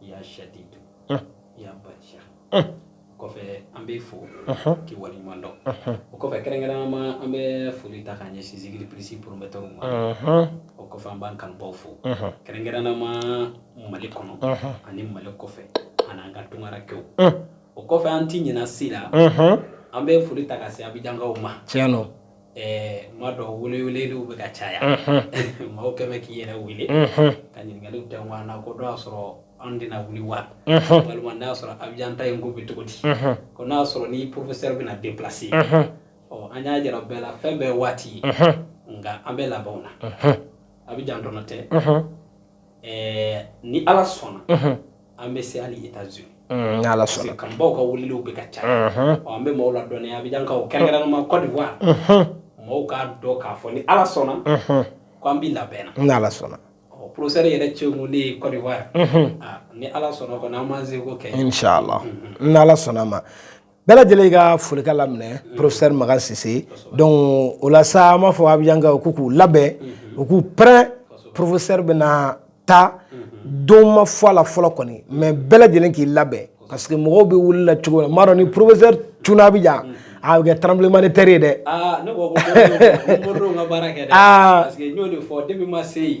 ya shadidu eh. ya basha o kɔfɛ an b'i fo k'i waleɲuman dɔn o kɔfɛ kɛrɛnkɛrɛnnama an bɛ foli ta k'a ɲɛsin zikiri plus promoteur ma o kɔfɛ an b'an kanubaw fo kɛrɛnkɛrɛnnama mali kɔnɔ ani mali kɔfɛ an'an ka tunkarankɛw o kɔfɛ an ti ɲinɛ si la an bɛ foli ta ka se abijankaw ma tiɲɛ don m'a dɔn wele weleliw bɛ ka caya maaw kɛlen bɛ k'i yɛrɛ wele ka ɲininkali tɛ ɲɔgɔn na ko dɔw y'a sɔrɔ an tɛna wuli wa walima n'a y'a sɔrɔ abijan taa in ko bɛ cogo di ko n'a y'a sɔrɔ ni professeur bɛna déplacer ɔ an y'a jira bɛɛ la fɛn bɛɛ waati ye nka an bɛ labɛn na abijan dɔrɔn tɛ Ɛɛ ni ala sɔnna an bɛ se hali États-Unis ala sɔnna kanubaw ka weleliw bɛ ka caya an bɛ maaw ladɔnniya abijankaw kɛrɛnkɛrɛnnama Côte d'Ivoire mɔgɔw k'a dɔn k'a fɔ ni ala sɔnna k' an bɛ labɛn na ni ala sɔnna ɔ professeur yɛrɛ cɛ mun ne ye Côte d'Ivoire ni ala sɔnna ko an b'an seko kɛ ni ala sɔnna a ma bɛɛ lajɛlen ka foli k'a laminɛ professeur Makan Sise donc o la sa an b'a fɔ abijankaw k'u k'u labɛn u k'u prêt professeur bɛna taa don ma fɔ a la fɔlɔ kɔni mais bɛɛ lajɛlen k'i labɛn parce que mɔgɔw bɛ wuli la cogo min na m'a dɔn ni professeur cunna abijan a bɛ kɛ tremblement de terre ye dɛ aa ne ko ko Moridenw ka baara kɛ dɛ parce que n y'o de fɔ depuis ma se yen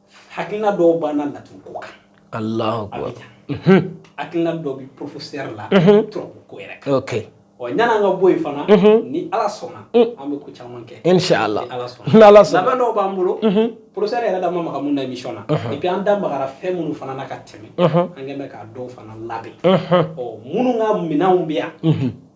hakilina dɔw b'an na laturu ko kan alahu akbar hakilina dɔ bi professeur la turabu ko yɛrɛ kan okay ɔ ɲana an ka bɔ yen fana ni ala sɔnna an bɛ ko caman kɛ inshallah ala sɔnna ni ala sɔnna labɛn dɔw b'an bolo professeur yɛrɛ da ma maga mun na émission na et puis an da magara fɛn minnu fana na ka tɛmɛ an kɛlen bɛ k'a dɔw fana labɛn ɔ minnu ka minɛnw bɛ yan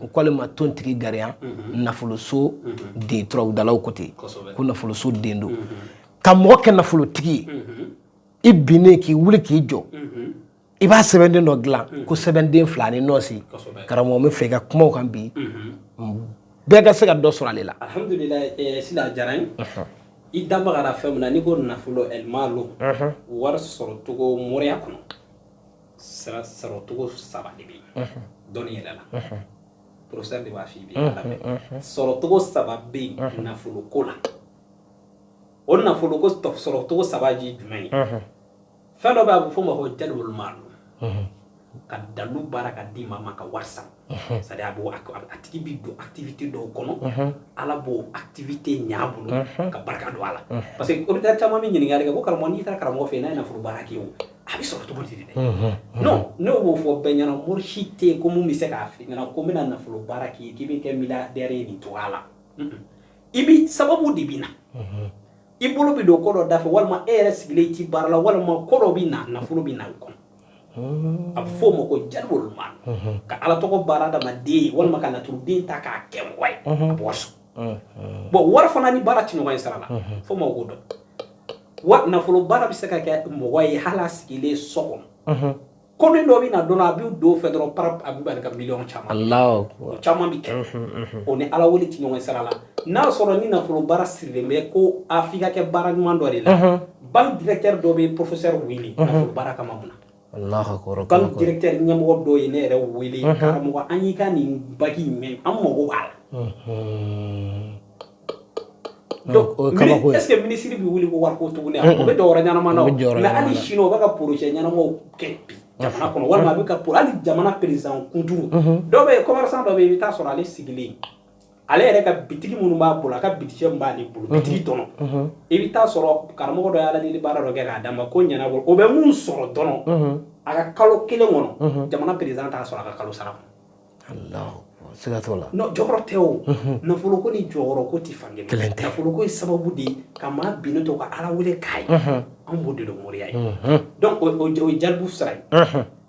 u k'ale ma tontigi gariya nafoloso den turabudalaw ko ten ko nafoloso den don ka mɔgɔ kɛ nafolotigi ye i binnen k'i wuli k'i jɔ i b'a sɛbɛnden dɔ dilan ko sɛbɛnden fila ni nɔɔsi karamɔgɔ min fɛ i ka kumaw kan bi bɛɛ ka se ka dɔ sɔrɔ ale la alhamdulillah sila diyara an ye i da magara fɛn min na n'i ko nafolo ɛlmalo wari sɔrɔ cogo moriya kɔnɔ sira sɔrɔ cogo saba de bɛ yen dɔnni yɛrɛ la professeur de b'a f'i bi ala bɛ sɔrɔ cogo saba bɛ yen nafolo ko la o nafolo ko sɔrɔ cogo saba ye jumɛn ye fɛn dɔ bɛ a bɛ f'o ma ko jalibul malo ka dalu baara k'a di maa ma ka wari sara c'est-à-dire a b'o a tigi bi don activité dɔw kɔnɔ ala b'o activité ɲ'a bolo ka barika don a la parce que auditeur caman bɛ ɲininkali kɛ ko karamɔgɔ n'i taara karamɔgɔ fɛ yen n'a ye nafolo baara k'i ye o a bɛ sɔrɔ cogo di de dɛ non ne b'o fɔ bɛɛ ɲɛna mori si tɛ yen ko mun bɛ se k'a f'i ɲɛna ko n bɛna nafolo baara k'i ye k'i bɛ kɛ milliardaire ye nin cogoya la i bi sababu de bɛ na i bolo bɛ don ko dɔ da fɛ walima e yɛrɛ sigilen i tɛ baara la walima ko dɔ bɛ na nafolo bɛ na o kɔnɔ a bɛ fɔ o ma ko jalibu maalu ka ala tɔgɔ baara adamaden walima ka laturuden ta k'a kɛ mɔgɔ ye a bɔ so bɔn wari fana ni baara tɛ ɲɔgɔn ye sira la fo ma ko dɔn wa nafolo baara bɛ se ka kɛ mɔgɔ ye hali sigilen so kɔnɔ ko min dɔ bɛ na dɔn a bɛ don fɛ dɔrɔn a bɛ bali ka miliyɔn caman o caman bɛ kɛ o ni ala wele tɛ ɲɔgɔn sira la n'a sɔrɔ ni nafolo baara sirilen bɛ ko a f'i ka kɛ baara ɲuman dɔ de la banque directeur dɔ bɛ professeur wele nafolo baara kama mun na banque directeur ɲɛmɔgɔ dɔ ye ne yɛrɛ wele karamɔgɔ an y'i ka nin bagi in mɛn an mago b'a la donc est ce que ministre bɛ wuli ko wariko tuguni o bɛ jɔyɔrɔ ɲɛnama na o mais hali sini o bɛ ka projet ɲɛnamaw kɛ bi jamana kɔnɔ walima a bɛ ka hali jamana président kunturu dɔ bɛ commerçant dɔ bɛ yen i bɛ taa sɔrɔ ale sigilen ale yɛrɛ ka bitigi minnu b'a bolo a ka bitigi min b'ale bolo bitigi tɔnɔ i bɛ taa sɔrɔ karamɔgɔ dɔ y'ala deli baara dɔ kɛ k'a d'a ma ko ɲɛnabɔ o bɛ mun sɔrɔ dɔrɔn a ka kalo kelen kɔnɔ jamana président t'a sɔrɔ a ka kalo sara siga t'o la jɔyɔrɔ tɛ o nafolo ko ni jɔyɔrɔ ko tɛ fan kelen tɛ nafolo ko ye sababu de ye ka maa binnen to ka ala wele k'a ye an b'o de dɔn moriya ye donc o ye jalibu sira ye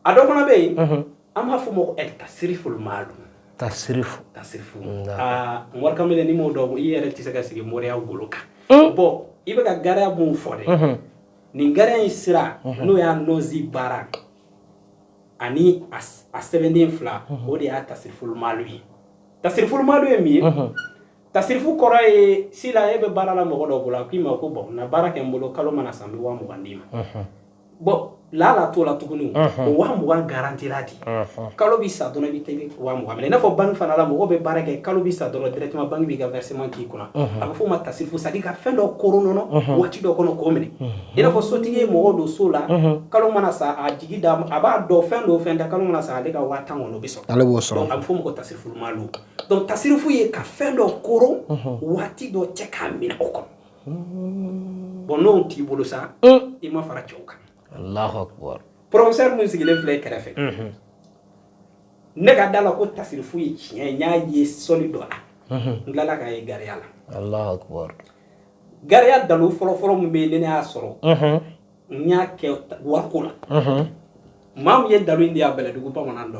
a dɔ fana bɛ yen an b'a fɔ o ma ko tasirifu maalu tasirifu tasirifu aa mori kamalen n'i m'o dɔn i yɛrɛ tɛ se ka sigi moriya golo kan bɔn i bɛ ka gariya mun fɔ dɛ nin gariya in sira n'o y'a nasi baara ani a sɛbɛnden fila o de y'a tasirifu maalu ye tasirifu maalu ye min ye tasirifu kɔrɔ ye si la e bɛ baara la mɔgɔ dɔ bolo a k'i ma ko bɔn na baara kɛ n bolo kalo mana sa n bɛ waa mugan d'i ma bɔn laala t'o la tuguni o waa mugan garantira di kalo bɛ sa dɔrɔn i bɛ taa i bɛ waa mugan minɛ i n'a fɔ banki fana la mɔgɔ bɛ baara kɛ kalo bɛ sa dɔrɔn directement banki b'i ka versement k'i kunna a bɛ f'o ma tasirifu c'est à dire ka fɛn dɔ koron nɔnɔ waati dɔ kɔnɔ k'o minɛ i n'a fɔ sotigi ye mɔgɔ don so la kalo mana sa a jigi da a b'a dɔn fɛn dɔw fɛn da kalo mana sa ale ka waa tan kɔnɔ bɛ sɔrɔ ale b'o sɔrɔ a bɛ f'o ma ko tasirifu maalu donc tasirifu ye ka fɛn dɔ koron waati dɔ cɛ k'a minɛ o kɔnɔ bɔn n'o t'i bolo sa i ma fara cɛw kan Allahu akbar professeur min sigilen filɛ kɛrɛfɛ ne ka da la ko tasirifu ye tiɲɛ ye n y'a ye sɔli dɔ la n tilala k'a ye gariya la Allahu akbar gariya dalu fɔlɔfɔlɔ min bɛ yen ne ne y'a sɔrɔ n y'a kɛ wariko la maa min ye dalu in di a bɛlɛdugu bamanan dɔ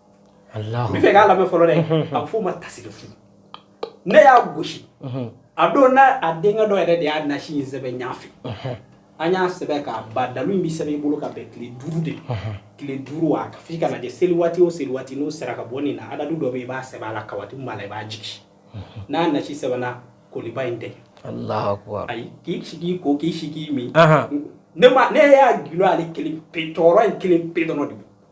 fɛ k'a lamɛn fɔlɔ dɛ a bɛ f'o ma tasirifu ne y'a gosi a don n'a a denkɛ dɔ yɛrɛ de y'a nasi in sɛbɛn ɲafɛ an y'a sɛbɛn k'a ban dalu in bɛ sɛbɛn i bolo ka bɛn tile duuru de tile duuru wa ka f'i kana kɛ seli waati o seli waati n'o sera ka bɔ nin na adadu dɔ bɛ yen i b'a sɛbɛn a la kawatimu b'a la i b'a jigin n'a nasi sɛbɛnna koliba in tɛ ayi k'i sigi ko k'i sigi min ne ma ne y'a gilan ale kelen pe tɔɔrɔ in kelen pe dɔrɔn de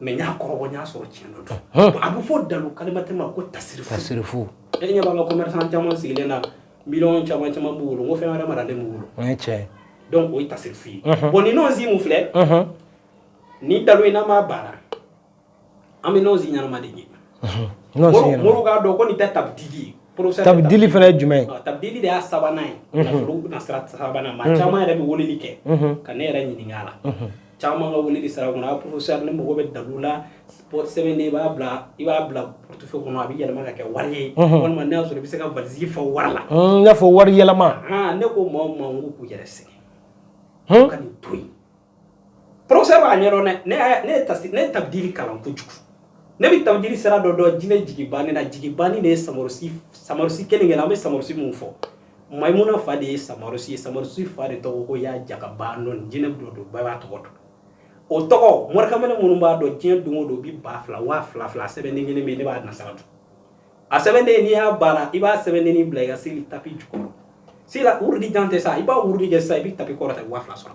mɛ n y'a kɔrɔbɔ n y'a sɔrɔ tiɲɛ dɔ don a bɛ fɔ dalu kalimatɛ ma ko tasiri tasirifu e ɲɛ b'an ka commerçant caman sigilen na miliyɔn caman caman b'u bolo ko fɛn wɛrɛ maralen b'u bolo o ye tiɲɛ ye donc o ye tasirifu ye bon ni nɔnsi min filɛ ni dalu in n'an b'a baara an bɛ nɔnsi ɲɛnama de ɲini moriw k'a dɔn ko nin tɛ tabidili ye tabidili fana ye jumɛn ye tabidili de y'a sabanan ye sira sabanan maa caman yɛrɛ bɛ weleli kɛ ka ne yɛrɛ ɲininka a la caman ka weleli sira kɔnɔ a professeur ne mago bɛ dalu la sɛbɛnden i b'a bila i b'a bila portefeuille kɔnɔ a bɛ yɛlɛma ka kɛ wari ye walima n'a sɔrɔ i bɛ se ka valisi fa wari la n y'a fɔ wari yɛlɛma ne ko maa ma ko k'u yɛrɛ sɛgɛn ka nin to yen professeur b'a ɲɛdɔn dɛ ne ne ye tasi ne ye tabidili kalan kojugu ne bɛ tabidili sira dɔ dɔn jinɛ jigi banni na jigi banni de ye samarusi samarusi kelen kelen an bɛ samarusi mun fɔ maimuna fa de ye samarusi ye samarusi fa de tɔgɔ ko y'a jaka baanɔni jinɛ dɔ don bɛɛ b'a tɔgɔ dɔn o tɔgɔ morikamalen minnu b'a dɔn diɲɛ don o don bi ba fila waa fila fila a sɛbɛnden kelen bɛ yen ne b'a na sira dɔn a sɛbɛnden n'i y'a baara i b'a sɛbɛndennin bila i ka seli tapi jukɔrɔ sira wurudi jan tɛ sa i b'a wurudi kɛ sa i bɛ tapi kɔrɔta i bɛ waa fila sɔrɔ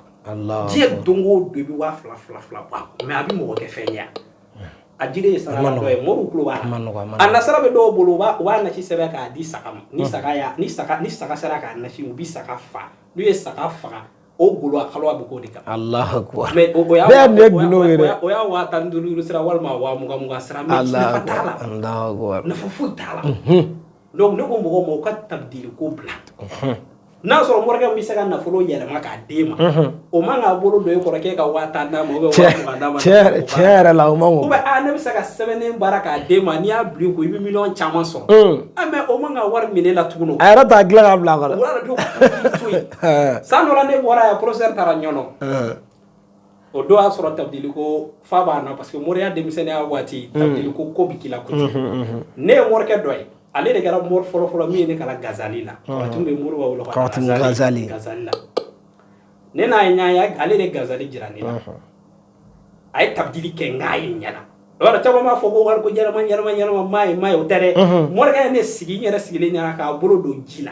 diɲɛ don o don i bɛ waa fila fila fila bɔ a kɔnɔ mɛ a bɛ mɔgɔ kɛ fɛn ye a jiri ye saraka dɔ ye moriw tulo b'a la a na sira bɛ dɔw bolo u b'a nasi sɛbɛn k'a di saga ma ni saga y'a ni saga ni saga sera k'a nasi min u bi saga fa n'u ye saga faga o bolo a kolo a bɛ k'o de kan Alahu akibaru mais o y'a bɛɛ ye gundo ye dɛ o y'a waa tan ni duuru sira walima waa mugan mugan sira mais nafa t'a la Alahu akibaru nafa foyi t'a la Donc ne ko mɔgɔw ma u ka tabdili ko bila unhun n'a sɔrɔ morikɛ min bɛ se ka nafolo yɛlɛma k'a d'e ma unhun o man kan k'a bolo don e kɔrɔ k'e ka 10000 d'a ma ou bien cɛ 20000 d'a ma tiɲɛ yɛrɛ tiɲɛ yɛrɛ la o man kan ou bien aa ne bɛ se ka sɛbɛnnen baara k'a d'e ma n'i y'a bila i kun i bɛ miliyɔn caman sɔrɔ un ah mais o man kan ka wari minɛ e la tugun o a yɛrɛ t'a dilan k'a bila a kun o y'a dɔn k'i to yen san dɔ la ne bɔra yan professeur taara ɲɔnɔn ɛɛ o don y'a sɔrɔ tabdili ko fa bɛ n na parce que moriya denmisɛnninya waati mm. tabdili ko ko bɛ k'i la kojugu mm-hmm, mm-hmm. ne ye morikɛ dɔ ye ale de kɛra mori fɔlɔfɔlɔ min ye ne kalan gazali la mm-hmm. waati bɛ mori b'a wolo ka gazali gazali la ne n'a ye ɲɔgɔn ye ale de gazali jira ne la a ye tabdili kɛ n k'a ye n ɲɛ na yɔrɔ caman b'a fɔ ko wari ko ɲɛnama ɲɛnama ɲɛnama m'a ye m'a ye o tɛ dɛ morikɛ ye ne sigi n yɛrɛ sigilen ɲɛna k'a bolo don ji la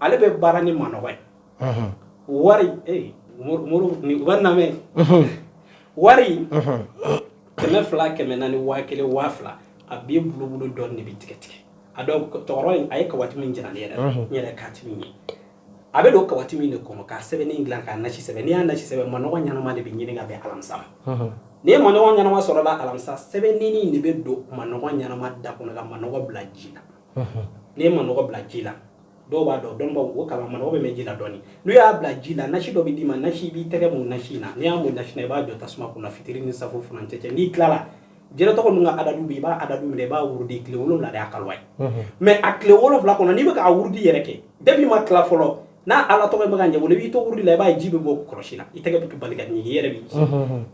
ale bɛ baara ni manɔgɔ ye wari wari lamɛn wari kɛmɛ fila kɛmɛ naani ni waa kelen waa fila a bɛ bulonkolon dɔ de bɛ tigɛ tigɛ a tɔɔrɔ a ye kawatimi jara ne yɛrɛ n yɛrɛ ka ye a bɛ don kawatimi de kɔnɔ ka sɛbɛn dilan k'a nasi sɛbɛn n'i y'a nasi sɛbɛn manɔgɔ ɲɛnama de bɛ ɲini ka bɛn alamisa n'i ye manɔgɔ ɲɛnama sɔrɔ alamisa sɛbɛn de bɛ don manɔgɔ ɲɛnama da kɔnɔ ka manɔgɔ bila ji la n'i ye manɔgɔ bila ji la dɔw b'a dɔn dɔnbaw o kala manɔgɔ bɛ mɛn ji la dɔɔni n'u y'a bila ji la nasi dɔ bɛ d'i ma nasi i b'i tɛgɛ mun nasi in na n'i y'a mun nasi na i b'a jɔ tasuma kunna fitiri ni safo furancɛ cɛ n'i tilala jinɛ tɔgɔ ninnu ka adadu bɛ i b'a adadu minɛ i b'a wurudi tile wolonwula de y'a kaluwa ye mɛ a tile wolonwula kɔnɔ n'i bɛ k'a wurudi yɛrɛ kɛ depuis i ma tila fɔlɔ n'a ala tɔgɔ b'i mago ɲɛ o la i b'i to wurudi la i b'a ye ji bɛ bɔ kɔlɔsi la i tɛgɛ bɛ bali ka ɲigin i yɛrɛ b'i ji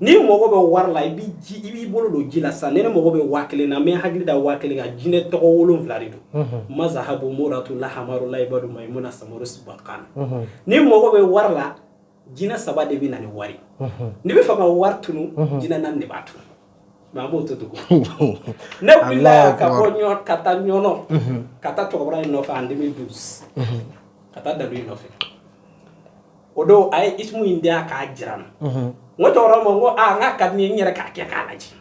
n'i mago bɛ wari la i b'i ji i b'i bolo don ji la sisan ne ne mago bɛ waa kelen na mɛ hakili da waa kelen ka jinɛ tɔgɔ wolonfila de don mazahabu muratu lahamaru layibadu mayimuna samaro sibakan n'i mago bɛ wari la jinɛ saba de bɛ na ni wari n'i b'a fɛ ka wari tunu jinɛ naani de b'a tunu mɛ a b'o to dugu ne wulila ka bɔ ɲɔ ka taa ɲɔnɔ ka taa cɛkɔrɔba in nɔfɛ en 2012 ka taa dalu in nɔfɛ o don a ye isimu in dilan k'a jira n na n ko cɛkɔrɔba ma n ko aa n k'a k'a to n ye n yɛrɛ k'a kɛ k'a lajɛ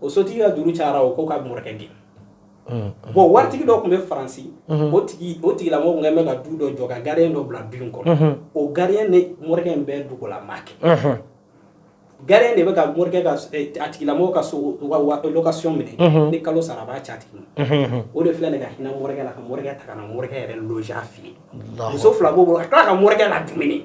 o sotigi ka juru cayara o ko ka morikɛ gɛn bon waritigi dɔ tun bɛ faransi o tigi o tigilamɔgɔ tun bɛ ka du dɔ jɔ ka gardien dɔ bila du in kɔnɔ o gardien ni morikɛ in bɛɛ dugulama kɛ gardien de bɛ ka morikɛ ka a tigilamɔgɔ ka sow ka location minɛ ni kalo sara a b'a ci a tigi ma o de filɛ nin ka hinɛ morikɛ la ka morikɛ ta ka na morikɛ yɛrɛ loger a fɛ yen muso fila b'o bolo ka tila ka morikɛ ladumuni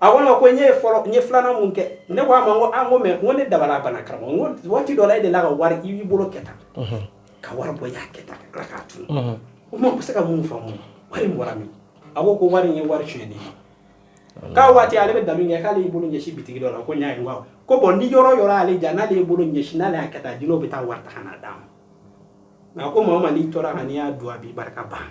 a ko ko n ye fɔlɔ n ye filanan mun kɛ ne ko a ma ko an ko mɛ ko ne dabali banna karamɔgɔ n ko waati dɔ la e delila ka wari i b'i bolo kɛ tan ka wari bɔ y'a kɛ tan ala k'a tun o ma se ka min faamu wari bɔra min a ko ko wari in ye wari tiɲɛ de ye k'a waati ale bɛ dalu kɛ k'ale y'i bolo ɲɛsin bitigi dɔ la ko n y'a ye ko bɔn ni yɔrɔ yɔrɔ ale ja n'ale y'i bolo ɲɛsin n'ale y'a kɛ tan jinɛw bɛ taa wari ta ka n'a d'a ma nka ko maa ma n'i tora ka n'i y'a dun a b'i barika ban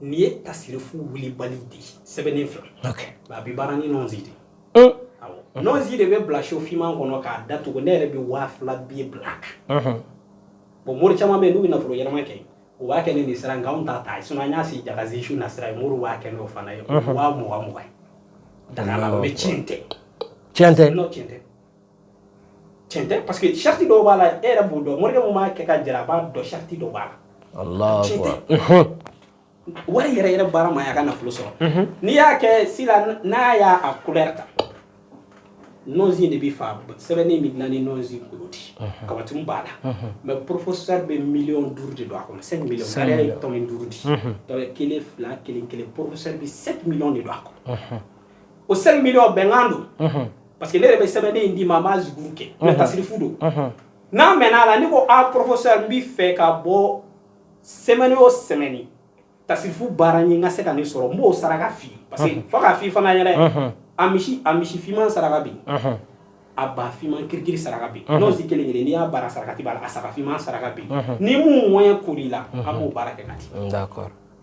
Nin ye tasirifu wulibali de ye sɛbɛnni fila a bɛ baara ni nɔnsi de nɔnsi de bɛ bila so finman kɔnɔ k'a da tugu ne yɛrɛ bɛ waa fila bi bila a kan bon mori caman bɛ n'u bɛ nafolo yɛlɛma kɛ u b'a kɛ ni nin sira nka ta ta sun n y'a sigi dagaganzsiw na sira ye mori b'a kɛ n'o fana ye waa mugan mɔgɔ daga mɛ tiɲɛ tɛ tiɲɛ tɛ non tiɲɛ tɛ cɛn tɛ parce que sariti dɔw b'a la e yɛrɛ b'o dɔn morikɛ mun b'a kɛ ka jɛra a b'a dɔn sariti dɔw b'a la cɛn tɛ wari yɛrɛ yɛrɛ baara ma y'a ka nafolo sɔrɔ n'i y'a kɛ sila n'a y'a a couleur ta nɔnzin de bɛ fa sɛbɛnni bɛ dilan ni nɔnzin kolo de ye katimu b'a la mais professeur bɛ miliyɔn duuru de don a kɔnɔ 5 millions sariya ye tɔmi duuru de ye tɔmi kelen fila kelen kelen professeur bɛ 5 millions de don a kɔnɔ o 5 millions bɛnkan don mhm. parce que ne yɛrɛ bɛ sɛbɛnden in d'i ma a m'a zikiri kɛ mais tasirifu don n'a mɛnna a la n'i ko a professeur n b'i fɛ ka bɔ semaine o semaine tasirifu baara n ye i ka se ka ne sɔrɔ n b'o saraka f'i ye parce que fo k'a f'i fana ɲɛna a misi a misi finman saraka bɛ yen a ba finman kirikiri saraka bɛ yen n'o si kelen kelen n'i y'a baara sarakati b'a la a saga finman saraka bɛ yen ni mun moyen kɛr'i la an b'o baara kɛ ka di d'accord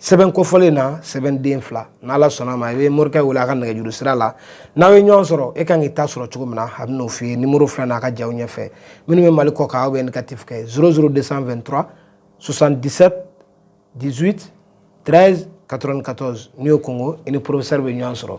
sɛbɛn kofɔlen na sɛbɛnden fila n'ala sɔnn'a ma i bɛ morikɛ wele a ka nɛgɛjuru sira la n'aw ye ɲɔgɔn sɔrɔ e kan k'i ta sɔrɔ cogo min na a bɛn'o f'i ye nimɔrɔ filɛ n'a ka jaw ɲɛfɛ minnu bɛ mali kɔ kan aw bɛ indicatif kɛ 00223 77 18 13 94 n'i y'o konkon i ni professeur bɛ ɲɔgɔn sɔrɔ